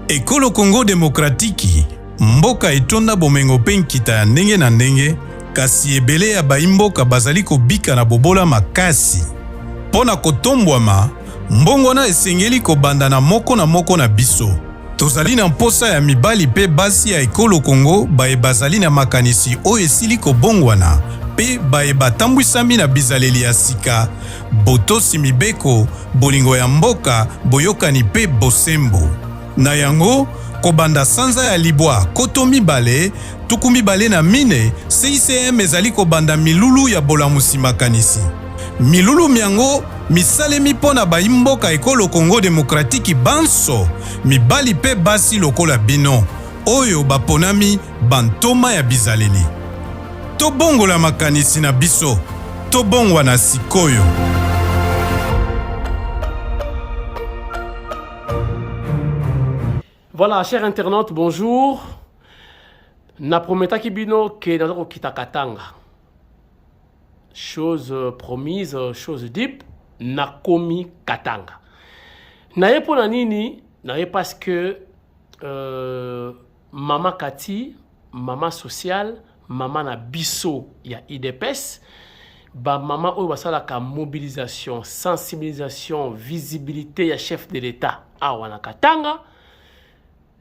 Ekolo Congo Demokratiki, mboka etonda bomengo mpe nkita ya ndenge na ndenge, kasi ebele ya baimboka bazali kobika na bobola makasi. Mpo na kotombwama, mbongwana esengeli kobanda na moko na moko na biso. Tozali na mposa ya mibali mpe basi ya ekolo Congo baye bazali na makanisi oyo esili kobongwana mpe baye batambwisami na bizaleli ya sika, botosi mibeko, bolingo ya mboka, boyokani mpe bosembo. Na yango, kobanda sanza ya libwa koto mibale, tuku mibale na mine, CICM ezali kobanda milulu ya bolamusi makanisi. Milulu myango misalemi mpo na bayi mboka Ekolo Congo Demokratiki banso, mibali mpe basi lokola bino, oyo baponami Bantoma ya bizaleli. Tobongola makanisi na biso, tobongwana sikoyo. Voilà, chers internautes, bonjour. Na prometaki bino que naza kokita Katanga. Chose euh, promise, euh, chose deep, nakomi Katanga. Naye pona nini? Naye parce que euh, Mama Cathy, mama sociale, mama na biso ya IDPS, ba mama oyo basalaka mobilisation, sensibilisation, visibilité ya chef de l'État awa na Katanga,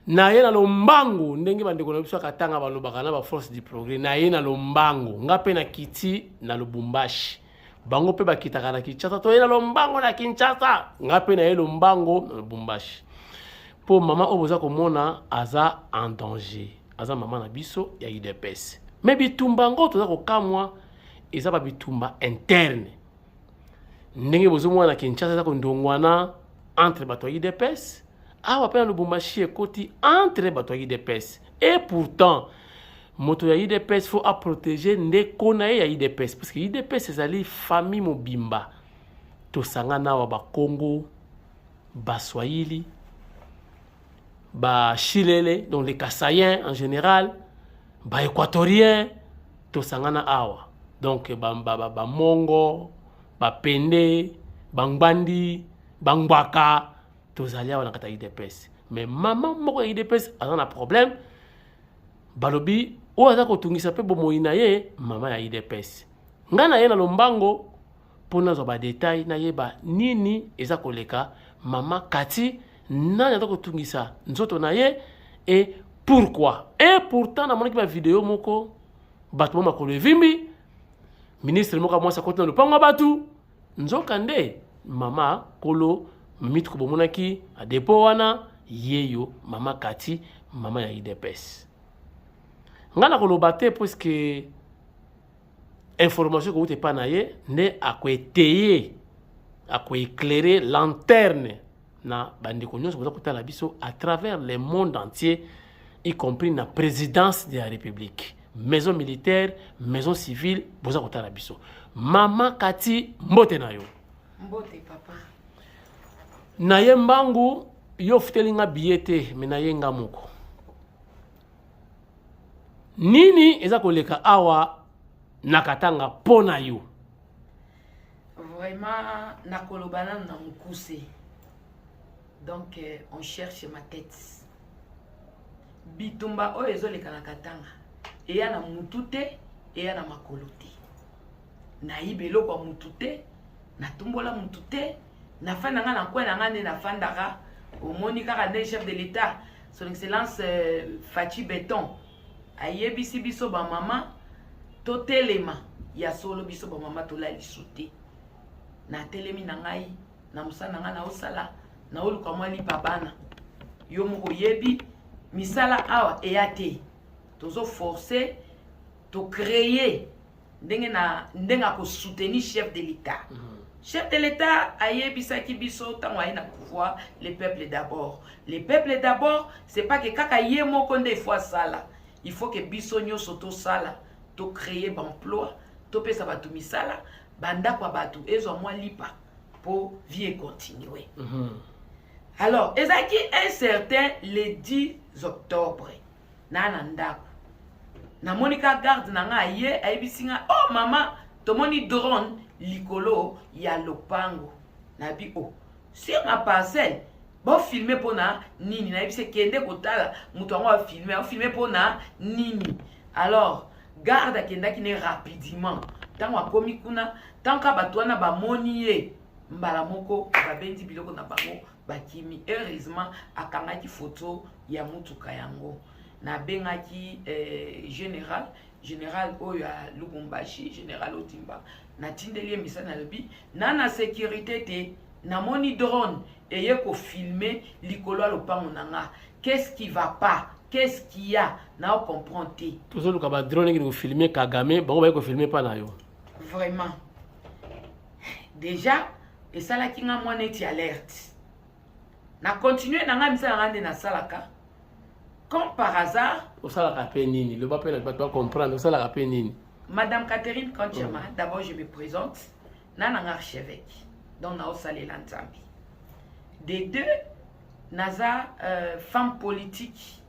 na ye na lombango ndenge bandeko na biso ya katanga balobaka na baforce du progrès na ye na lombango nga mpe na kiti na lubumbashi bango mpe bakitaka na kinshasa toye na lombango na kinshasa ngai mpe naye lombango na lubumbashi mpo mama oyo boza komona aza en danger aza mama na biso ya udps me bitumba yango toza kokamwa eza ba bitumba interne ndenge bozomona na kinshasa eza kondongwana entre bato ya udps awa mpe na lubumbashi ekoti entre bato ya udps et pourtant moto ya udps faut a protéger ndeko na ye ya udps parce que udps ezali famille mobimba tosangana awa bakongo baswahili bashilele donc les kasayen en général baéquatorien tosangana awa donc bamongo ba, ba, ba bapende bangbandi bangbaka tozali awa na kati ya udps mais mama moko ya udps aza na problème balobi oyo aza kotungisa mpe bomoi na ye mama ya idps ngai na ye na lombango mpo nazwa badetail nayeba nini eza koleka mama kati nani aza kotungisa nzoto na ye e pourkui e pourtant namonaki bavideo moko bato mwa makolo evimbi ministre moko ya mwasi akoti na lopango ya bato nzokande mama kolo mitko bomonaki adepo wana yeyo mama kati mama ya idps ngai nakoloba te puiske information ekowuta epai na ye nde akoeteye akoeclaire lanterne na bandeko nyonso boza kotala biso à travers le monde entier y compris na présidence de la république maison militaire maison civile boza kotala biso mama kati mbote na yo mbote papa na ye mbangu yo ofuteli nga biye te me na ye nga moko nini eza koleka awa na katanga mpo na yo Vraiment, nakoloba nanu na mukuse. Donc, euh, on cherche ma tête. Bitumba oyo ezoleka na Katanga. Eya na mutu te, eya na makolo te. Nayiba eloko ya mutu te, natumbola mutu te, nafanda nga na kwe na nga nde nafandaka. Omoni kaka nde chef de l'État, son excellence euh, Fatshi Beton. ayebisi biso bamama totelema ya solo biso bamama tolalisu te natelemi na ngai na mosala na ngai naosala naoluka mwa lipa bana yo moko oyebi misala awa eya te tozo force tocreye ndenge na ndenge ako soutenir chef de l'etat mm -hmm. chef de l'etat ayebisaki biso ntango aye na pouvoir le peuple d'abord le peuple d'abord c'est pas que kaka ye moko nde ifo asala il faut que biso nyonso tosala tocreye baemploi topesa bato misala bandako ya bato ezwa mwa lipa mpo vie econtinue mm -hmm. alors ezalaki un certain le 10 octobre naa na ndako namoni ka garde na ngai aye ayebisi ngai o oh, mama tomoni drone likolo ya lopango nayebi o oh, sur ma parcelle bofilme mpo na nini nayebisi ekende kotala moto yango afilme afilme mpo na nini alors garde akendaki ne rapidement ntango akomi kuna ntango ka bato wana bamoni ye mbala moko babendi biloko na bango bakimi heureusement akangaki foto ya motuka yango nabengaki eh, général général oyo ya lubumbashi général otimba natindeli ye misali nalobi na na sécurité te namoni drone eye kofilme likolo ya lopango na nga qu'est-ce qui va pas qu'est-ce qui ya na ocomprendre te tozoluka badrone ekili kofilme kagame bango baye kofilme mpa na yo vraiment deja esalaki nga mwa neti alerte na continue na ngai misala ngai nde nasalaka comme par hasard osalaka mpe nini loba mpe na bato bacomprendre osalaka mpe nini madame catherine kantiama mm. d'abord je me présente na nanga archevêque donc naosalela nzambe de deux naza euh, femme politique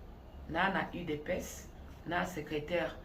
na na udps na secrétaire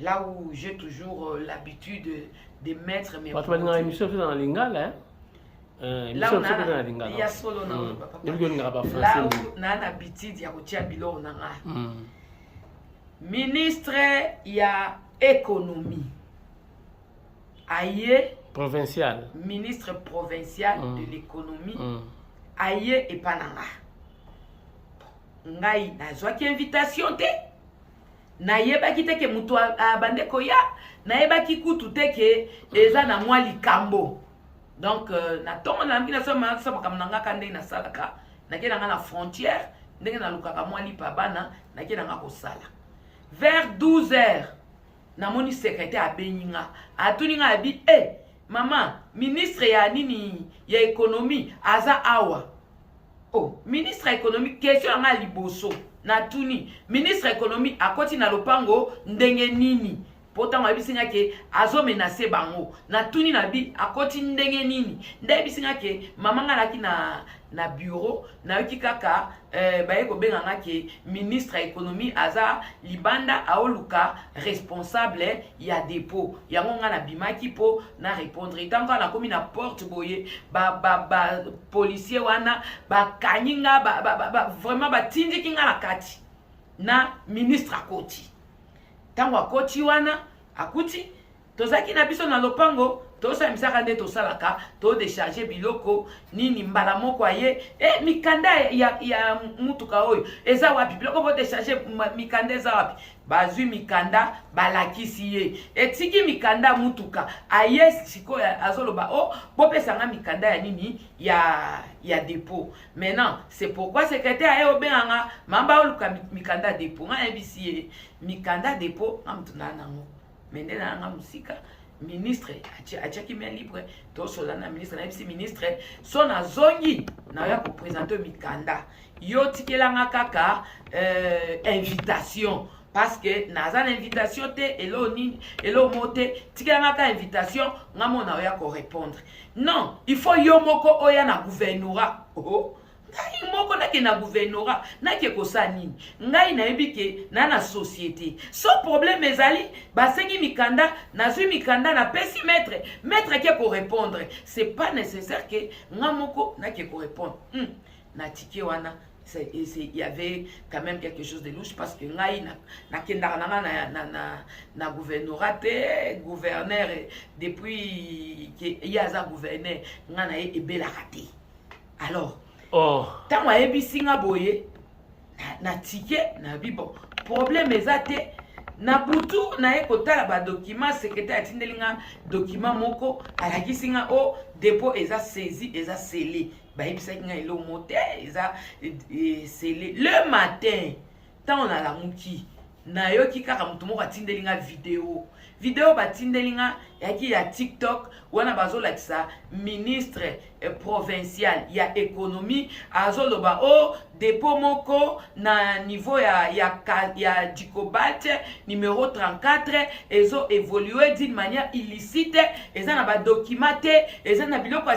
là où j'ai toujours euh, l'habitude de mettre mes bato balingaka émission toza na lingala hein? Euh, là où na na habitude ya kotia biloko na nga hmm. ministre ya économie aye provincial ministre provincial mm. de l'économie mm. aye epa na nga ngai nazwaki invitation te nayebaki te ke moto abande koya nayebaki kutu te ke eza na mwa likambo donc euh, na ntongo na yambi naso makambo na ngaka ndenge nasalaka nake na nga na frontière ndenge nalukaka mwa lipa bana nake na nga kosala vers 12 heures namoni secrétaire abengi nga atuni nga abi e eh, Maman, ministre ya nini ya ekonomi aza awa. Oh, ministre ya ekonomi question yanga liboso na tuni ministre ya ekonomi akoti na lopango ndenge nini? mpo ntango ayebisi nga ke azomenase bango natuni na bi akoti ndenge nini nde ayebisi nga ke mama nga alaki na, na bureau nayoki kaka Euh, baye kobenga nga ke ministre ya économie aza libanda aoluka responsable ya dépôt yango nga nabimaki mpo na répondre ntango kaka nakomi na porte boye bapolicier ba, ba, wana bakangi nga ba, ba, ba, ba, vraiment batindiki nga na kati na ministre akoti ntango akoti wana akuti tozalaki na biso na lopango tosambisaka nde tosalaka todecharge biloko nini mbala moko aye e mikanda ya, ya mutuka oyo eza wapi biloko bodecharge mikanda eza wapi bazwi mikanda balakisi ye etiki mikanda mutuka aye sikoyo azoloba o oh, bopesanga mikanda ya nini ya ya depot maintenant c'est pourquoi secrétaire aye obenganga mamba oluka mikanda depot nga yebisi ye mikanda depot nga moto naa nango mende na yanga mosika ministre atiaki mia libre tosola na ministre nayebisi ministre so nazongi naoya kopresente mikanda yo tikelanga kaka euh, invitation parce que naza na invitation te eloo nini eloo mo te tikelanga ka invitation nga mona oya korépondre non il faut yo moko oya na gouvernorat oh. ngai moko nake na gouvernorat nake kosala nini ngai nayebi ke na na société so problème ezali basengi mikanda nazwi mikanda napesi maître maître ake korépondre c'est pas nécessaire ke nga moko nake korépondre hmm. natike wana il y avait quand même quelque chose de louche parce que ngai nakendaka na nga na, na, na, na gouvernorat te gouverneur depuis ye aza gouverneur ngai na ye ebelaka te alors oh. ntango oh. ayebisi nga boye na tike na bibo problème eza te na butu naye kotala badokima sekretare atindeli nga dokima moko alakisi nga o oh, depo eza saisi eza sele bayebisaki nga eloko mo te eza eh, sele le matin ntango nalamuki nayoki kaka moto moko atindeli nga video video batindeli nga yaki ya tiktok wana bazolakisa ministre eh, provincial ya économie azoloba o oh, depo moko na niveau ya, ya, ya dicobate numero 34 ezo évolue d'une manière illicite eza na badokima te eza na biloko ya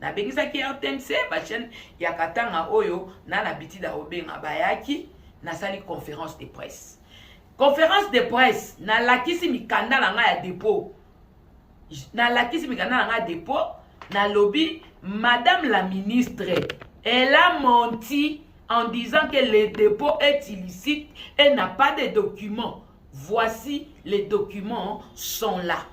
nabengisaki rtmc bachaine ya katanga oyo na na bitida obenga bayaki nasali conférence de presse conférence de presse nalakisi mikanda na ngai ya dépôt nalakisi mikanda na ngai ya dépôt nalobi madame la ministre elle a menti en disant que le dépôt est illicite et n'a pas de documents voici les documents sont là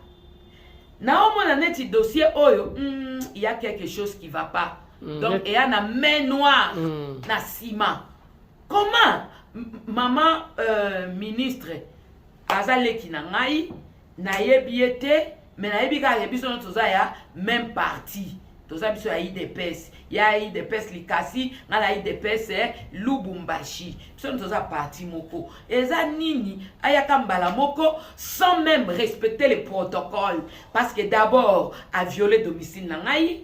naomona neti dossier oyo mm, il y a quelque chose qui va pas mm. donc eya na main noire mm. na nsima comment maman euh, ministre aza leki na ngai nayebi ye te mais nayebi kaka ke biso nyonso toza ya même parti toza biso ya idps ya idps likasi ngai na idps eh, lubumbashi biso nyonso toza parti moko eza nini ayaka mbala moko sans même respecter le protocole parce que d'abord aviole domicile na ngai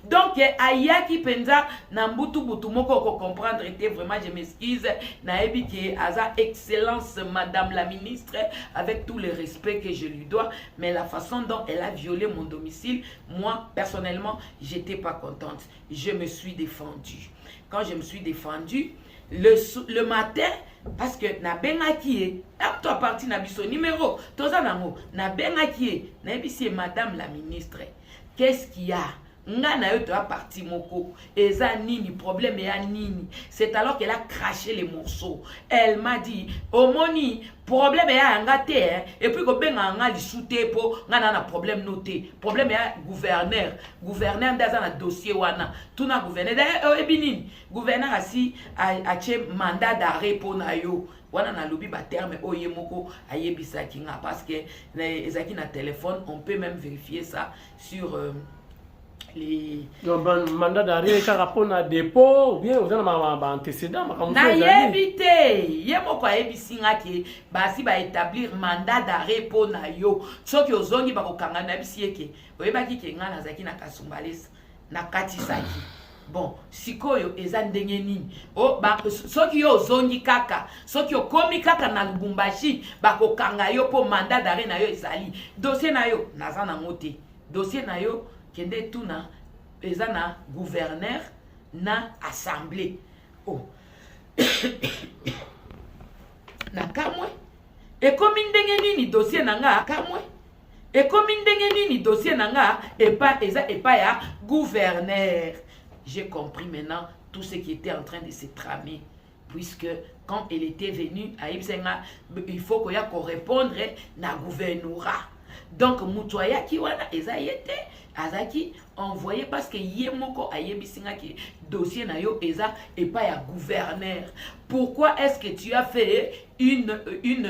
donc ayaki mpenza na mbutu butu moko okocomprendre te vraiment je m'excuse nayebi ke aza excellence madame la ministre avec tout le respect que je lui dois mais la façon dont elle a violé mon domicile moi personnellement j'étais pas contente je me suis défendue quand je me suis défendue le, le matin parce que nabengaki ye apto aparti na biso numero toza nango nabengaki ye nayebisi ye madame la ministre qu'est-ce qu'il y a nga na yo toya parti moko eza nini problème ya nini c'est alors qu'elle a craché les morceaux elle m'a dit omoni problème ya yanga te hein? et puis kobengaka nga lisu te mpo nga na na problème no te problème ya gouverneur gouverneur nde aza na dossier wana tuna gouverneur daye oyebi nini gouverneur asi atie mandat d'arrêt mpo na yo wana nalobi baterme oyo ye moko ayebisaki nga parce que ezalaki na téléphone on peut même vérifier ça sur euh, les... mandat d'arrêt kaka mpo na dépôt bien oza na baantécédent makambo nayebi te ye moko ayebisi nga ke basi baétablir mandat d'arrêt mpo na yo soki ozongi bakokanga nayebisi ye ke oyebaki ke ngai nazalaki na kasumbalesa nakatisaki bon sikoyo eza ndenge nini oh, ba, soki yo ozongi kaka soki okomi kaka na lubumbashi bakokanga yo mpo mandat dare na yo ezali dosie na yo naza nango te dosie na yo kende tuna eza na gouverneur na assemblée oh. na kamwe ekomi ndenge nini dosie na nga kamwe ekomi ndenge nini dossier na nga epa eza epa ya gouverneur j'ai compris maintenant tout ce qui était en train de se tramer puisque quand elle était venue ayebisa nga il faut koya korépondre na gouvernorat donc moto ayaki wana eza ye te azalaki envoye parce que ye moko ayebisi nga ke dossier na yo eza epai ya gouverneur pourquoi est ce que tu as fait une, une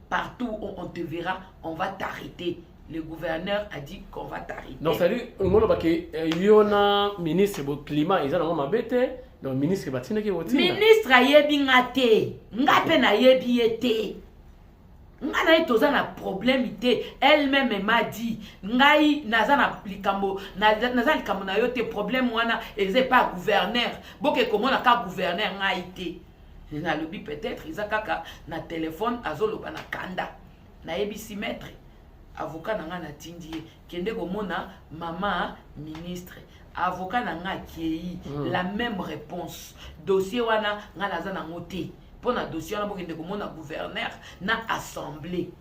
Partout où on te verra, on va t'arrêter. Le gouverneur a dit qu'on va t'arrêter. Donc, c'est-à-dire, euh, il y a ministre du climat, ils ont bête. Donc, ministre, il va t'inquiéter. Ministre, il y a bien athée. Il y a bien athée. nga na ye toza na problème te elle-même m'a dit ngai naza na likambo naza likambo na yo te problème wana eza epa gouverneur boke komona ka gouverneur ngai te nalobi peut-être eza kaka na telefone azoloba na kanda nayebisi maître avocat na ngai natindi ye kende komona mama ministre avocat na ngai akei mm. la même réponse dossier wana ngai naza nango te mpo na dossier wana bokende komona gouverneur na assemblée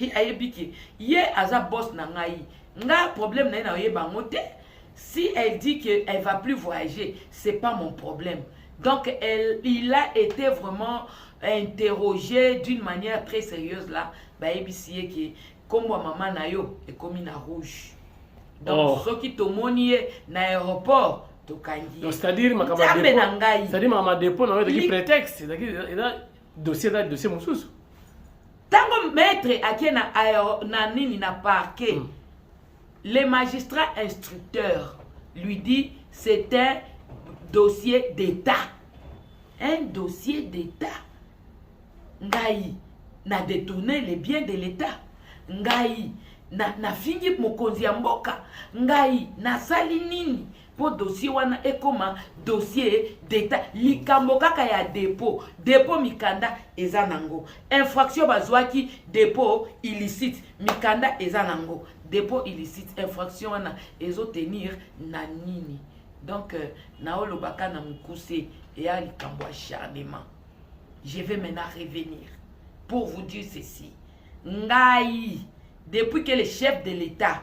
Hi ayebi ke ye aza boss na ngai. Nga problème na ye na oyeba ngo te. Si elle dit que elle va plus voyager, c'est pas mon problème. Donc elle, il a été vraiment interrogé d'une manière très sérieuse là. Ba yebisi ye ke kombo maman na yo ekomi na rouge. Donc oh. soki tomoni ye na aéroport tokangi. Donc c'est-à-dire makambo na ngai. C'est-à-dire makambo dépôt na yo ezalaki prétexte, ezalaki dossier eza dossier mosusu ntango maître ake na, na nini na parquet mm. le magistrat instructeur lui dit c'est un dossier d'état un dossier d'état ngai na détourne les biens de l'état ngai nafingi na mokonzi ya mboka ngai nasali nini mpo dossier wana ekoma dossier d'etat likambo kaka ya dépôt dépôt mikanda eza nango infraction bazwaki dépôt illicite mikanda eza nango dépôt illicite infraction wana ezo tenir na nini donc euh, naolobaka na mokuse eya likambo ya charnement je vais maintenant revenir pour vous dire ceci ngai depuis que le chef de l'état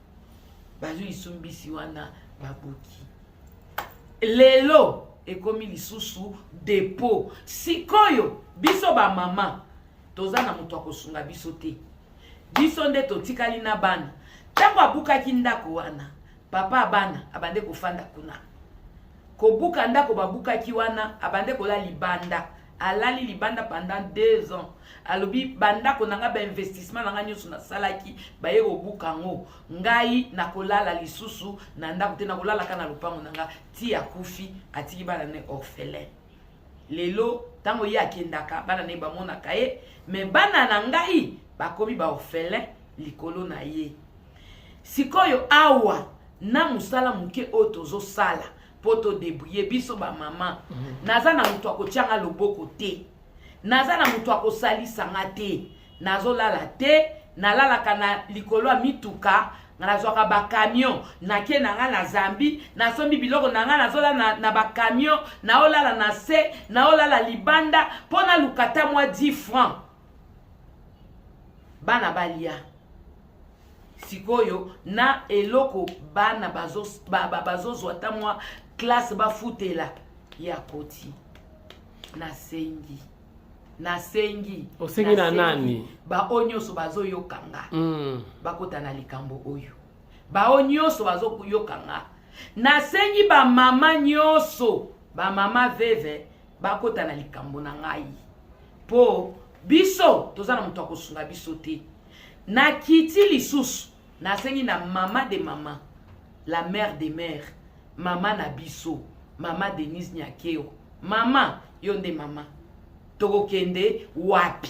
bazwi lisumbisi wana babuki lelo ekomi lisusu depo sikoyo biso bamama toza na moto akosunga biso te biso nde totikali na bana ntango abukaki ndako wana papa ya bana abande kofanda kuna kobuka ndako babukaki wana abande kola libanda alali libanda pendant deux ans alobi bandako na ngai bainvestissement na ngai nyonso nasalaki baye kobuka yango ngai nakolala lisusu na ndako te nakolalaka na lopango na ngai ti akufi atiki bana ne orphelin lelo ntango ye akendaka bana na ye bamonaka ye me bana na ngai bakomi baorphelin likolo na ye sikoyo awa na mosala moke oyo tozosala mpo todebrouille biso bamama mhm. naza na moto akotyanga loboko te naza na moto akosalisa nga te nazolala te nalalaka na likolo ya mituka nga nazwaka bakamion nake na nga na zambi nasombi biloko na nga nazolala na, na bakamion naolala na se naolala libanda mpo naluka ta mwa 10 franc bana balia sikoyo na eloko bana bazozwa ba, ba, ba ata mwa klase bafutela ya koti nasengi nasengi osengi na nani baoyo nyonso bazoyoka nga mm. bakota na likambo oyo baoyo nyonso bazoyoka nga nasengi bamama nyonso bamama veve bakota na likambo na ngai mpo biso toza na moto ya kosunga biso te Na kiti lisusu na sengi na mama de mama la mère de mère mama na biso mama Denise Nyakeo mama yo nde mama tokokende wapi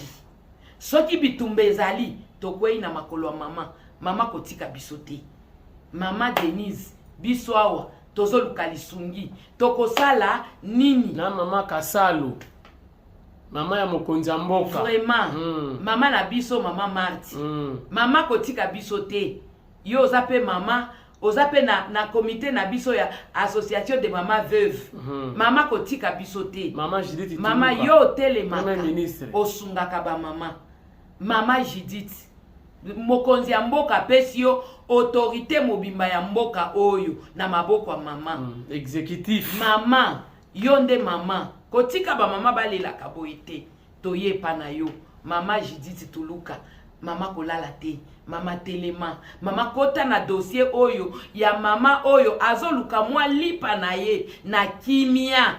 soki bitumba ezali tokwei na makolo ya mama mama kotika biso te mama Denise biso awa tozoluka lisungi tokosala nini na mama Kasalo mama ya mokonzi ya mboka vraiment mm. mama na biso mama marti mm. mama kotika biso te yo oza mpe mama oza mpe na, na komite na biso ya association de mama veuve mm. mama kotika biso te mama, mama yo otelemaka osungaka bamama mama judith mokonzi ya mboka apesi yo autorité mobimba ya mboka oyo na maboko ya mama mm. exécutif mama Yo nde maman, kotika ba maman balelaka boye te. Toye epa na yo. Mama Judith Tuluka, mama kolala te, mama telema, mama kota na dossier oyo ya mama oyo azoluka mwa lipa na ye na kimia.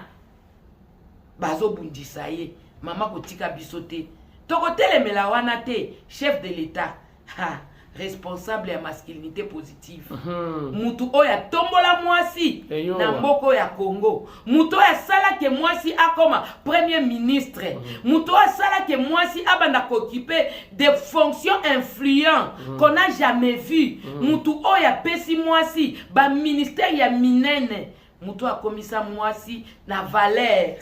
Bazobundisa ye, mama kotika biso te. Tokotelemela wana te, chef de l'etat. ha responsable ya masculinité positive mhm. mutu mm -hmm. oyo atombola mwasi Eyo. na mboka oyo ya congo mutu oyo asala ke mwasi akoma premier ministre mm -hmm. mutu oyo asala ke mwasi abanda kokipe de fonction influent mm -hmm. qu'on a jamais vu mm -hmm. mutu oyo apesi mwasi baministère ya minene mutu akomisa mwasi na valeur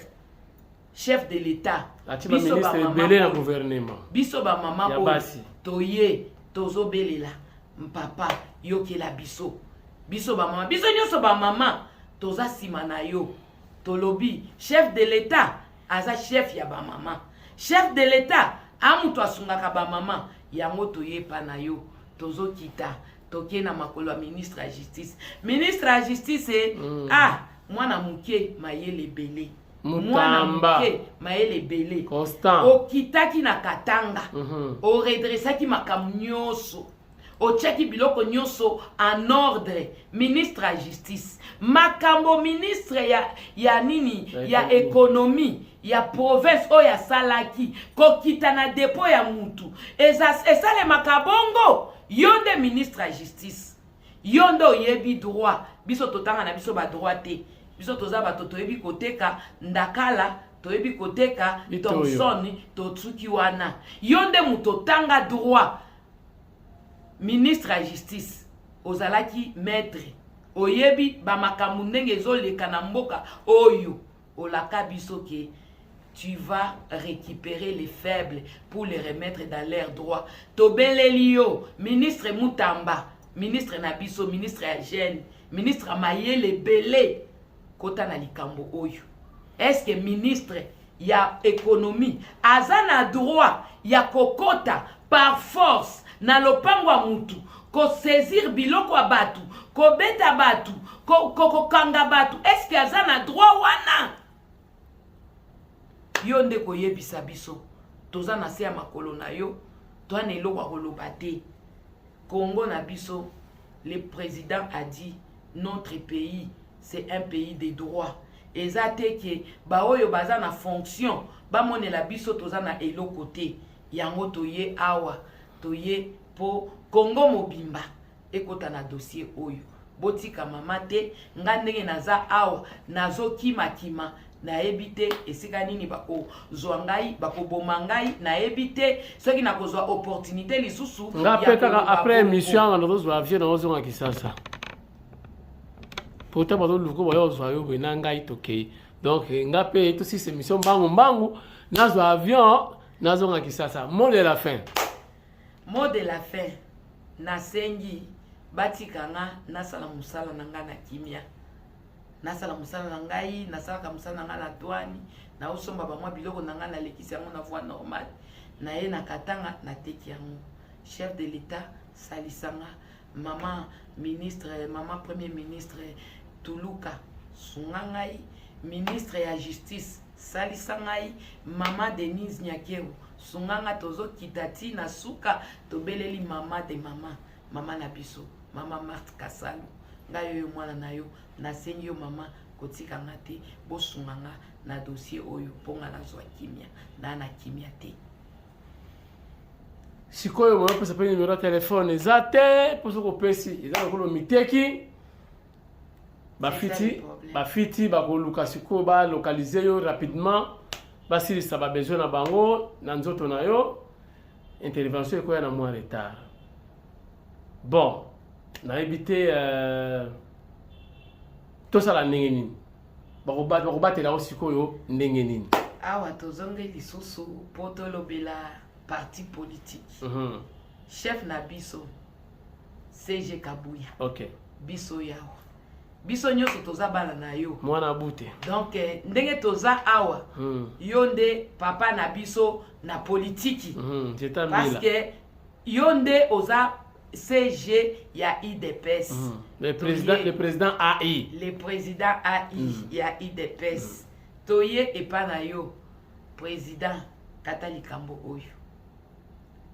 chef de l'etat atie baministre ebele na gouvernement biso bamama oyo toye tozobelela mpapa yokela biso biso bamama biso nyonso bamama toza nsima na yo tolobi chef de l'etat aza chef ya bamama chef de l'etat a moto asungaka bamama yango toyepa na yo tozokita toke na makolo ya ministre ya justice ministre ya justice eh, mm. ah mwana moke mayele ebele mwana moke mayele ebele okitaki na katanga mm -hmm. oredressaki makambo nyonso otyaki biloko nyonso en ordre ministre ya justice makambo ministre ya, ya nini ya ekonomi ya province oyo asalaki kokita na depo ya mutu esalemaka bongo yo nde ministre ya justice yo nde oyebi droit biso totanga na biso badroit te biso toza bato toyebi koteka ndakala toyebi koteka thomson totuki wana yo nde moto otanga droit ministre ya justice ozalaki maître oyebi bamakambo ndenge ezoleka na mboka oyo Olaka biso ke tu vas récupérer les faibles pour les remettre dans leur droit. Tobeleli yo, ministre Mutamba, ministre na biso, ministre ya jeune, ministre Mayele Belé, kota na likambo oyo. Est-ce que ministre ya économie aza na droit ya kokota par force na lopango ya mutu kosaisir biloko ya bato kobeta bato kokanga ko, ko bato eske aza na droit wana yo nde koyebisa biso toza na se ya makolo na yo toa na eloko ya koloba te congo na biso le président a dit notre pays c'est un pays de droit eza te ke baoyo baza na fonction bamonela biso toza na eloko te yango toye awa toye po congo mobimba ekota na dossier oyo botika mama te nga ndenge naza awa nazokimakima nayebi te esika nini bakozwa ngai bakoboma ngai nayebi te soki nakozwa opportunité lisusu nga mpe kaka après émission anga nazozwa avion nazozonga kisasa pourtant bazoluka bayo ozwa yo boye na ngai tokei donc nga mpe tosisa émission mbangu mbangu nazwa avion nazonga kisasa mot de la fin Mot de la fin, nasengi batika nga nasala mosala na ngai na kimia, nasala mosala na ngai, nasalaka mosala na ngai na douane, naosomba bamwa biloko na ngai, nalekisi yango na voie normale, naye na Katanga, nateki yango. Chef de l'Etat, salisa nga. Mama ministre, mama premier ministre, tuluka, sunga ngai. Ministre ya justice, salisa ngai. Mama Denise Nyakero, sunga nga tozokita ti na suka tobeleli mama de mama mama na biso mama marte kasalu ngai oyo mwana na yo nasengi yo mama kotika nga te bosunga nga na dossier oyo mpo nga nazwa kimia naa na kimia te sikoyo boyopesa mpe nimero ya telefone eza te mposo kopesi eza lokolo miteki bafiti bafiti bakoluka sikoyo balokalize yo rapidement basilisa babesoin na bango na nzoto na yo intervention ekoya na mwa retard bon nayebi te euh, tosala ndenge nini bakobatela yango sikoyo ndenge nini awa tozongi lisusu mpo tolobela parti politique uh mhm. -huh. chef na biso CG Kabuya. Okay. Biso yawa. Biso nyoso toza bana na yo. Mwana bute. Donc eh, ndenge toza awa. Hmm. Yo nde papa na biso na politiki. Hmm. Parce que yo nde oza CG ya IDPS. Hmm. Le président le président AI. Le président AI hmm. ya IDPS. Hmm. Toye epa na yo président kata likambo oyo.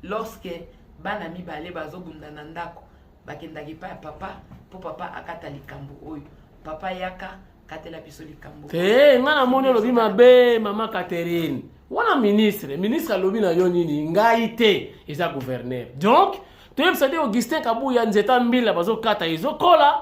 lorsque bana mibale bazobunda na ndako bakendaka epai ya papa mpo papa akata likambo oyo papa yaka katela biso likambo te eh, ngai namoni olobi mabe mama catherine wana ministre ministre alobi na yo nini ngai te eza gouverneur donc toyebisa te augustin kabuya nzeta mbila bazokata ezokola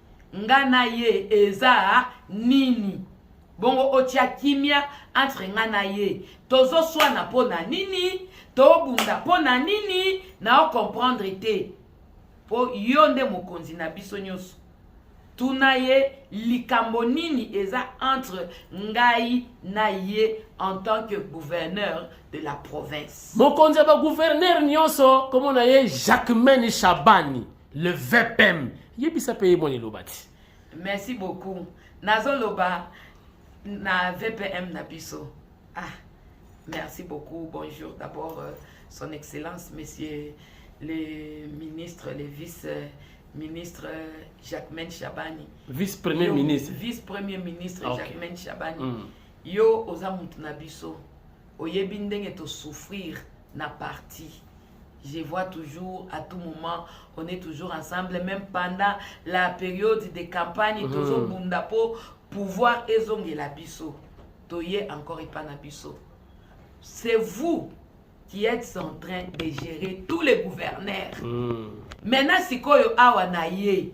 nga na ye eza nini bongo otya kimia entre nga na ye tozoswana mpo na nini tobunda mpo na nini na ocomprendre te mpo yo nde mokonzi na biso nyonso tuna ye likambo nini eza entre ngai na ye en tant que gouverneur de la province mokonzi ya bagouverneur nyonso komona ye jacquemaine shabani le vpm yebisa mpe ye mwa liloba ti merci beaucoup nazoloba na vpm na biso ah merci beaucoup bonjour d'abord euh, son excellence monsieur le ministre le vice euh, ministre euh, Jacquemin Chabani vice premier yo, ministre vice premier ministre ah, okay. Jacquemin Chabani mm. yo oza mutu na biso oyebi ndenge to souffrir na parti Je vois toujours à tout moment, on est toujours ensemble, même pendant la période de campagne, mm. tozo bunda po pouvoir ezongela biso. Toye encore epa na biso. C'est vous qui êtes en train de gérer tous les gouverneurs. Mm. Maintenant, sikoyo awa na ye,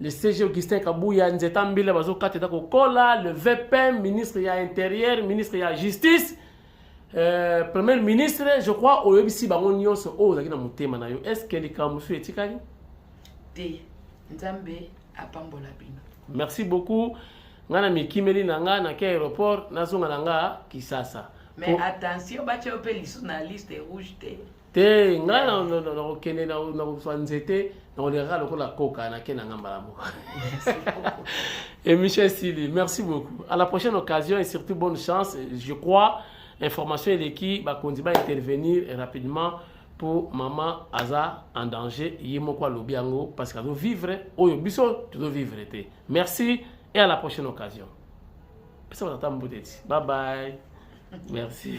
le CG Augustin Kabuya nzeta mbila bazokata eza kokola le VPM ministre ya interieur ministre ya justice euh, premier ministre je crois oyebisi bango nyonso oyo ozalaki na motema na yo est ce que likambo mosusu etikali te nzambe apambola bino merci beaucoup ngai na mikimeli na ngai nake aéroport nazonga na ngai kisasa mais attention batya yo mpe lisu na liste rouge te te ngai nakokende nakozwa nzete nakolekaka lokola koka nake na ngai mbala moko emission esili merci beaucoup à la prochaine occasion et surtout bonne chance je crois information eleki bakonzi ba intervenir rapidement mpo mama aza en danger ye moko alobi yango parce que azovivre oyo biso tozovivre te merci et à la prochaine occasion pesa batata mbuteti bye bye merci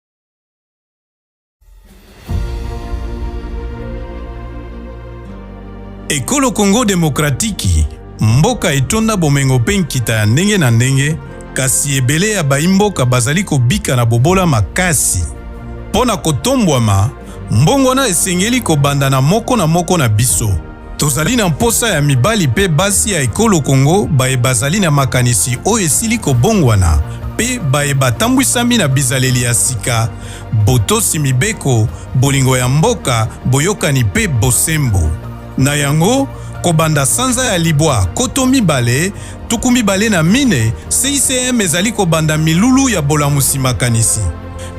Ekolo Congo Demokratiki, mboka etonda bomengo mpe nkita ya ndenge na ndenge, kasi ebele ya baimboka bazali kobika na bobola makasi. Mpo na kotombwama, mbongwana esengeli kobanda na moko na moko na biso. Tozali na mposa ya mibali mpe basi ya ekolo Congo baye bazali na makanisi oyo esili kobongwana mpe baye batambwisami na bizaleli ya sika, botosi mibeko, bolingo ya mboka, boyokani mpe bosembo. Na yango, kobanda sanza ya libwa koto mibale, tuku mibale na mine, CICM ezali kobanda milulu ya bolamusi makanisi.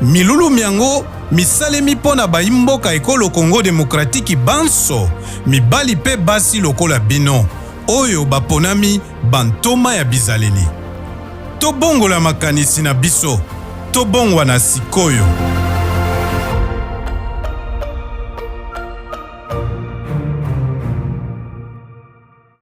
Milulu myango misalemi mpo na baimboka ekolo Congo demokratiki banso, mibali mpe basi lokola bino, oyo baponami bantoma ya bizaleli. Tobongola makanisi na biso, tobongwana sikoyo.